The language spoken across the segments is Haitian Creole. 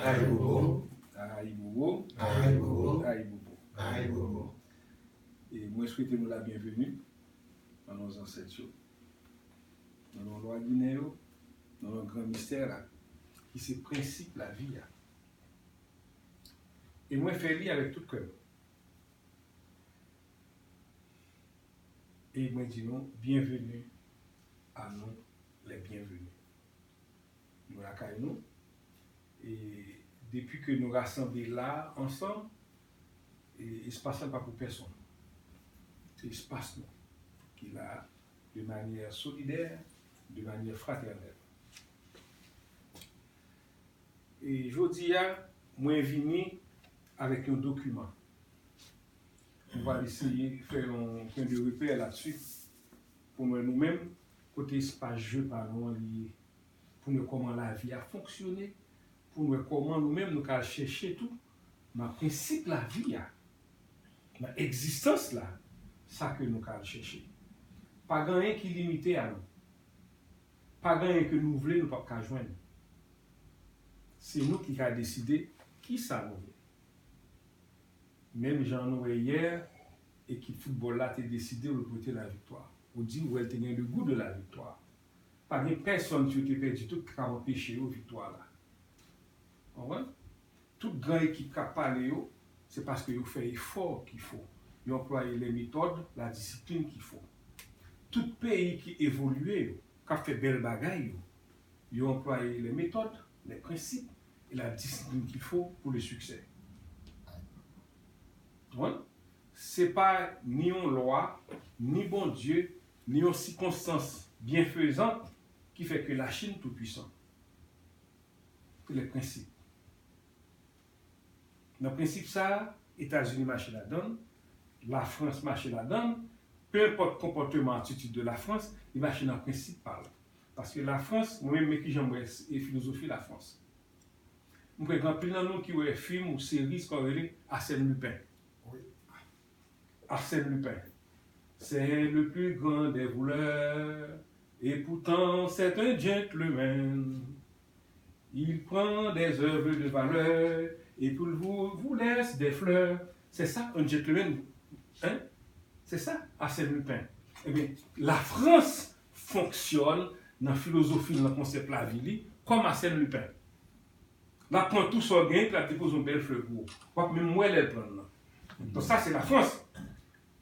Ayibobo Ayibobo Ayibobo Ayibobo Ayibobo E mwen swete nou la byenveni nan non zansèt yo, nan non lwa ginen yo, nan non gran mistè la ki se prensip lavi a. E mwen fè li avèk tout kè m. E mwen di nou byenveni a nou lè byenveni. Nou lakay nou, e depi ke nou rasanble la a ansanm, espas la pa pou pèsonn. Se espas nou ki la a de manyè solidè, de manyè fratènèl. E jodi a, mwen vini avèk yon dokiman. Nou pral eseye fè yon pwen de repè la dsu pou mwen nou menm. Kote espas je pa nou an li ye? Pou n wè kòman lavi a fonksyone, pou n wè kòman nou menm nou ka al chèche tou nan prensip lavi a, nan egzistans la, sa ke nou ka al chèche. Pa gen anyen ki limite a nou. Pa gen anyen ke nou vle nou pap ka jwenn. Se nou ki ka deside kisa nou vle. Menm jan nou wè yè, Ekip foutbòl la te deside repote laviktwa. Ou di ou wè l te gen le goût de la victoire. Pa gen pèsonn si yo te pèdi tout ki kab anpeche yo viktwa la. Ou konprann? Tout gran ekip k ap pale yo, se paske yo fè efò ki fo. Yo anplwaye lè metòd, la disiplin ki fo. Tout peyi ki evolye yo, k ap fè bèl bagay yo, yo anplwaye lè metòd, lè prensip e la disiplin ki fo pou le siksè. Donk, se pa ni yon lwa, ni Bondye, ni yon sikonstans byenfezan ki fè ke Lachin toupuisan. Se le prensip. Nan prensip sa a, Etazini mache ladan l, Lafrans mache ladan l, penenpòt konpòteman atitid de Lafrans, li mache nan prensip pa l. Paske Lafrans, mwen menm men kijan m wè filozofi Lafrans. Mwen kwè gen anpil nan nou ki wè fim ou seri sa yo rele Arsène Lupin. Arsène Lupin C'est le plus grand des voleurs Et pourtant c'est un gentleman Il prend des oeuvres de valeurs Et puis vous laisse des fleurs C'est ça un gentleman Hein C'est ça Arsène Lupin Ebyen la France fonksyòn nan filozofi l, nan konsèp lavi li, kòm Arsène Lupin. L ap pran tou sa w gen, epi l ap depoze yon bèl flè pou ou. W ap menm wè lè l pran l lan. Donk sa se Lafrans.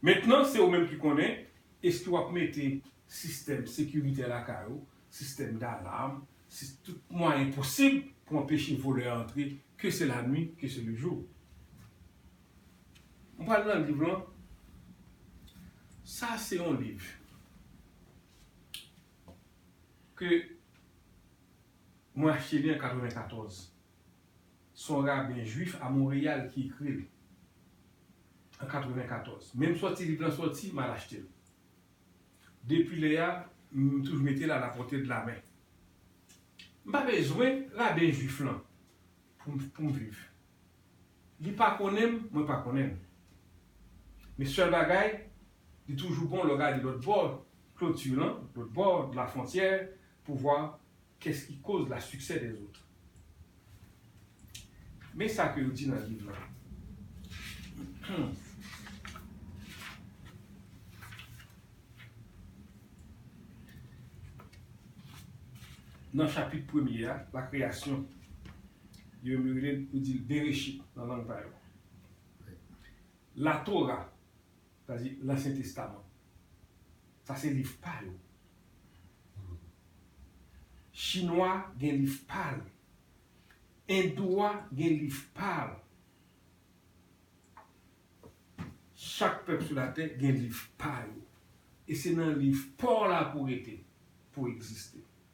Mentnan, se ou menm ki konnen, èske w ap mete sistèm sekiritè lakay ou, sistèm dalam, sis, tout mwayen posib pou anpeche volè antre, ke se lanwi, ke se lejou? M pral nan liv lan. Sa se yon liv ke mwen achte li an 94. Se yon raben jwif a Monreyal ki ekri l an 94. Menm sòti liv lan sòti, m al achte l. Depi lè a, m toujou mete l a la pòte de la men. M pa bezwen raben jwif lan pou m viv. Li pa konnen m, mwen pa konnen l. Men sèl bagay, li toujou bon lè w gade lòt bò kloti lan, lòt bò dlafwontyè pou vwa kès ki koz la siksè dèzot. Men sa ke yo di nan liv lan. Nan chapit premye a, lakreyasyon, Yo menm yo rele l, yo di l Bereshit nan lang pa yo. Latora, sa vle di Lansyen Testaman, sa se liv pa yo. Chinwa a gen liv pa l. Endou a gen liv pa l. Chak pèp sou latè gen liv pa yo. E se nan liv pa w la pou w rete, pou w egziste.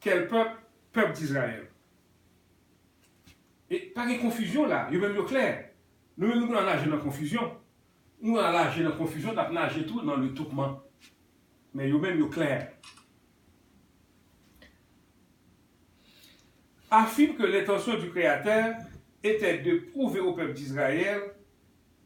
Kèl pèp? Pèp Dizrayèl. E pa gen konfizyon la, yo menm yo klè. Nou menm nou konn al naje nan konfizyon. Nou al naje nan konfizyon, n ap naje tou nan letoupman. Men yo menm yo klè. Afime ke lentansyon di Kreyatè etè de pwouve o pèp Dizrayèl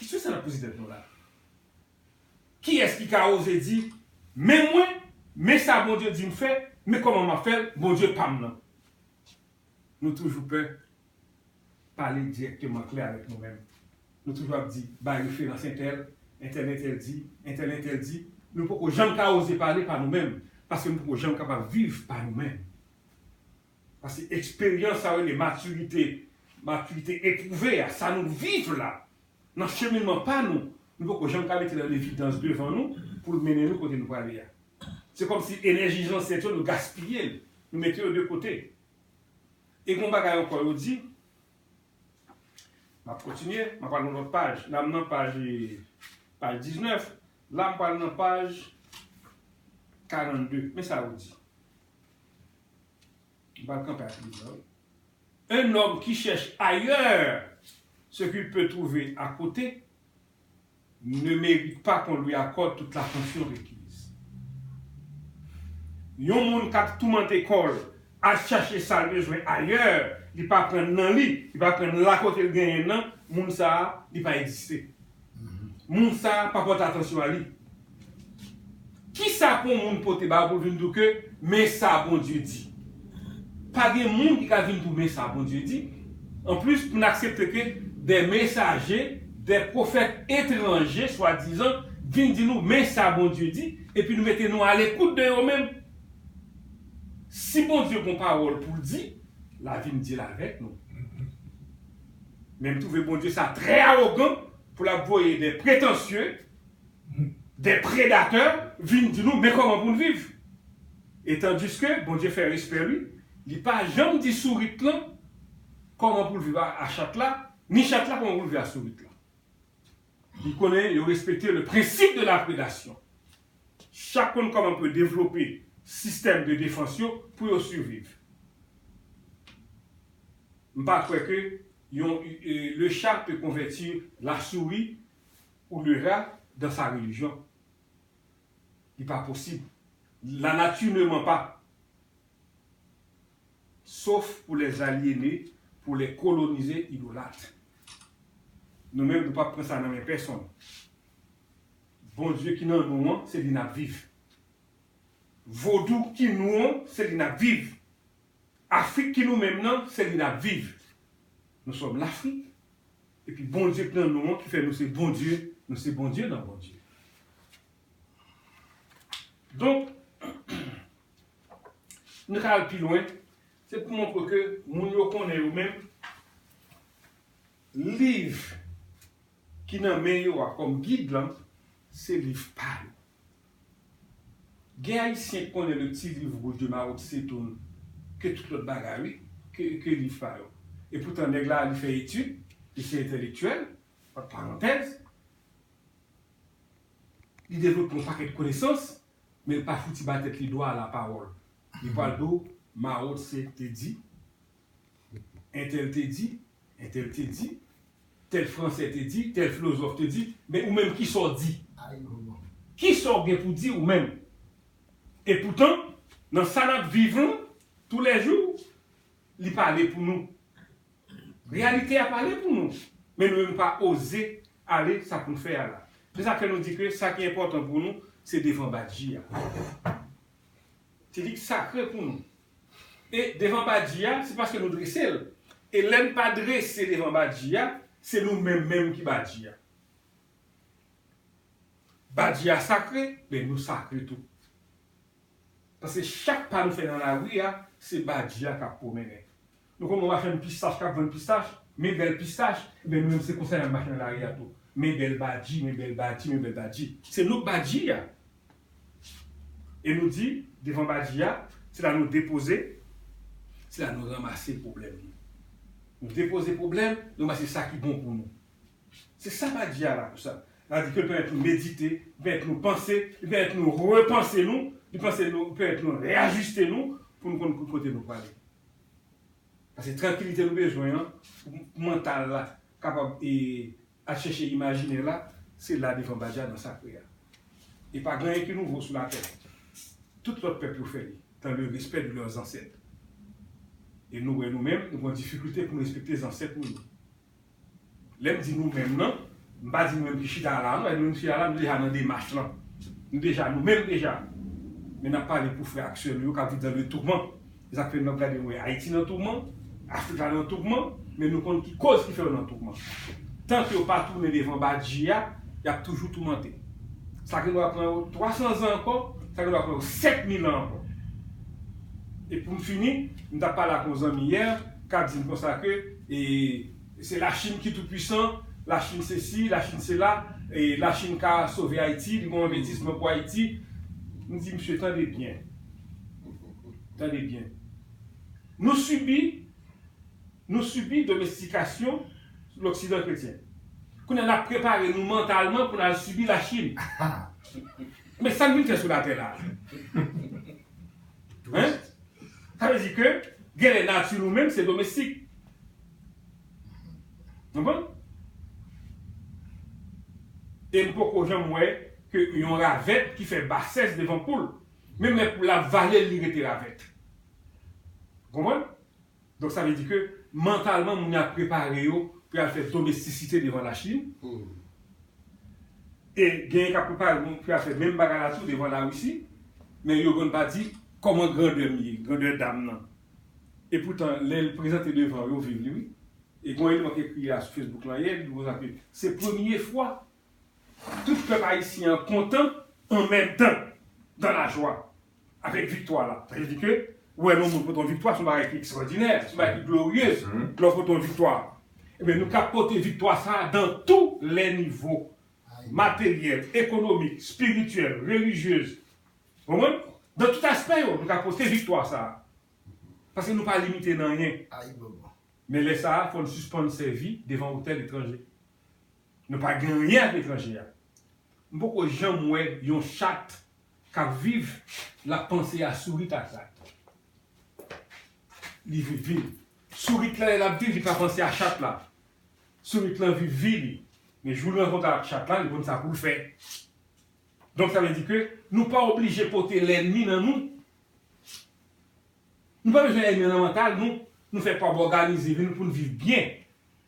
Kesyon sa n ap poze tèt nou la a, kiyès ki ka oze di, Men mwen, men sa Bondye di m fè, men kòman m ap fè l, Bondye pa m nan? Nou toujou pè pale dirèkteman, klè avèk nou menm. Nou toujou ap di, Bay referans entèl, entèl entèl di, entèl entèl di. Nou poko janm ka oze pale pa nou menm, paske nou poko janm kapab viv pa nou menm. Paske eksperyans, sa yo rele matirite, matirite epwouve a, sa nou viv la, nan cheminman pa nou, nou poko janm ka mete l an evidans devan nou pou l mennen nou kote nou prale a. Se kòmsi enèji zansèt yo nou gaspiye l, nou mete yo de kote. E gen yon bagay ankò yo di, m ap kontinye, m ap pran yon lòt paj, la m nan paj 19, la m pral nan paj 42, men sa yo di, M pral kanpe ak liv la wi. Un homme qui cherche ailleurs ce qu'il peut trouver à côté ne mérite pas qu'on lui accorde toute l'attention requise. Yon moun k ap toumante kò l, al chache sa l bezwen ailleurs, li pa pran nan li, li pa pran nan lakote l genyen nan, moun sa a, li pa egziste. moun sa a pa pòte atansyon a li. Ki sa pou moun pote ba ou pou l vin di w ke men sa Bondye di? Pa gen moun ki ka vin di w men sa Bondye di. Anplis, pou n aksepte ke de mesaje, de pwofèt etranje swadizan vin di nou men sa Bondye di, epi nou mete nou alekout de yo menm. Si Bondye gon pawòl pou l di, la vin di l avèk nou. Men m twouve Bondye sa trè awogan pou lap voye de pretansye, de predatè vin di nou men kòman pou n viv. E tandiske Bondye fè respè li, li pa janm di sourit lan kòman pou l viv a chat la, ni chat la kòman pou l viv a sourit lan. Li konnen yo respekte le principe de la predation. Chak konn kòman pou yo devlope sistèm de defans yo pou yo surviv. M pa kwè ke yon le chat peut convertir la souris ou le rat dans sa religion. Li pa posib. La nature ne ment pas. Sof pou les aliene, pou les kolonize idolatre. Nou menm nou pap pran sa nan men pèsonn. Bondye ki nan nou an, se li nap viv. Vodou ki nou an, se li nap viv. Afrik ki nou menm nan, se li nap viv. Nou sòm lafrik, epi Bondye k nan nou an ki fè nou se Bondye, nou se Bondye nan Bondye. Donk. Nou ka al pi lwen, se pou montre ke moun yo konnen yo menm, liv ki nan men yo a kòm gid lan, se liv pa yo. Gen Ayisyen ki konnen le Petit Livre Rouge de Mao Tse Tung ke tout lòt bagay wi, ke liv pa yo. E poutan nèg la li fè etid, li se entèlektyèl, ant parantèz, li devlope yon pakèt konesans, Men l pa fouti ba tèt li dwa a la pawòl. Li pral di w Mao Tse te di, entèl te di, entèl te di, tèl fransè te di, tèl flozòf te di, men ou menm kisa w di? Kisa w gen pou di ou menm? E poutan, nan sa n ap viv lan, toulèjou, li pale pou nou. Reyalite a pale pou nou, men nou menm nou pa oze ale sa pou n fè a la. Se sa k fè nou di ke sa ki enpòtan pou nou se devan Badji a. Se li ki sakre pou nou. E devan Badji a, se paske nou drese l. E lè n pa drese devan Badji a, se nou menm menm ki Badji a. Badji a sakre, men nou sakre tou. Paske chak pa nou fè nan lari a, se Badji a k ap pwomennen. Nou konn wè machann pistach kap vann pistach, men bèl pistach, enben nou menm se konsa nap mache nan lari a tou, men bèl badji, men bèl badji, men bèl badji. Se nou k badji a. E nou di, devan badji a, se la nou depoze, se la nou ranmase pwoblèm nou. Nou depoze pwoblèm, nou ranmase sa ki bon pou nou. Se sa badji a la pou sa. La di ke l pèmèt nou medite, li pèmèt nou panse, li pèmèt nou repanse nou, li panse nou, li pèmèt nou reyajiste nou pou nou konn ki kote nou prale. Pase trankilite nou bezwen an pou mantal la kapab e al chèche imajinè la se la devan Baja nan sakre a. E pa gen anyen ki nouvo sou latè. Tout lòt pèp yo fè li dan le respè de lè zansèt. E nou wè nou menm nou pran difikilte pou nou respekte zansèt nou yo. Lè m di nou menm nan, m pa di nou menm ki chita la a non, e nou menm ki chita la a nou deja nan demach lan. Nou deja nou menm deja. Men n ap pale pou frè ak sè nou yo k ap viv nan le tourman. Se sa k fè nou ap gade nou e Ayiti nan tourman, Afrik la nan tourman, men nou konn ki koz ki fè yo nan tourman. Tan ke yo pa tounen devan Badji a, y ap toujou toumante. Sa gen dwa pran yo 300 zan ankò, sa gen dwa pran yo 7000 an ankò. E pou m fini, m t ap pale ak yon zanmi yè k ap di m konsa ke, E se la chine ki tou pwisan, la chine se si, la chine se la, e la chine ka sove ayiti, li gon envestisman pou ayiti, m di misye tande byen, tande byen, nou sibi, nou sibi domestikasyon loksidan kretyen, kounye a nap prepare nou mantalman pou nal sibi la chine, men sa n vin fè sou latè la? Hein? Sa vle di ke genlè nati nou menm se domestik. Konprann? E m poko janm wè ke yon ravèt ki fè basès devan poul. Menm lè poul la ap vale l li rete ravèt. Konprann? Donk sa vle di ke mantalman moun yo ap prepare yo pou y al fè domestisite devan Lachin, e genyen k ap prepare moun pou y al fè menm bagay la tou devan Larisi, men yo konn pa di kòman grandè m ye, grandè dam nan. E poutan lè l prezante devan yo viv li wi. E gen yon eleman k ekri la sou Facebook lan yè, li di konsa ke se premye fwa Tout pèp ayisyen an kontan an menm tan dan la jwa avèk viktwa la. Sa vle di ke ou wè lè yon moun pote yon viktwa se yon bagay ki ekstwòdinè, se yon bagay ki gloriyez lè w pote yon viktwa. Ebyen nou ka pote viktwa sa a dan tou lè nivo, materyèl, ekonomik, espirityèl, relijyez. Ou konprann? Dan tout aspè yo nou ka pote viktwa sa a. Paske nou pa limite nan anyen. Ayibobo. Men lè sa a fò n sispann sèvi devan otèl etranje. Nou pa gen anyen ak etranje a. M poko janm wè yon chat kap viv lap panse a sourit ak rat. Li viv vi l. Sourit la lè lap viv li pa panse a chat la. Sourit lan viv vi li. Men jou li rankontre ak chat la li konn sa poul fè. Donk sa vle di ke nou pa oblije pote lènmi nan nou. Nou pa bezwen ènmi nan mantal nou. Nou fè pab òganize vi nou poun viv byen.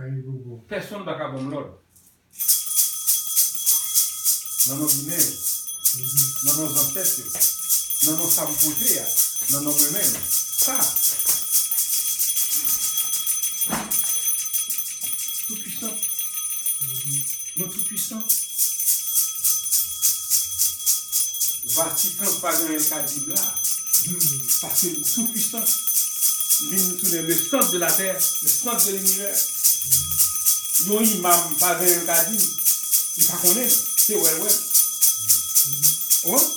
Ayibobo. Pèsonn pa ka ban m lòd. Nan non Ginen yo. Nan non zansèt yo. Nan non sa m pote a. Nan non mwen menm. Sa. Tout pwisan. Non tout. puissant. Vatican pagen anyen lka dim la humm paske li tou puissant li vin tounen le centre de la terre le centre de l'univers yon imam pagen anyen lka dim li pa konnen li se wèl wèl ou konprann.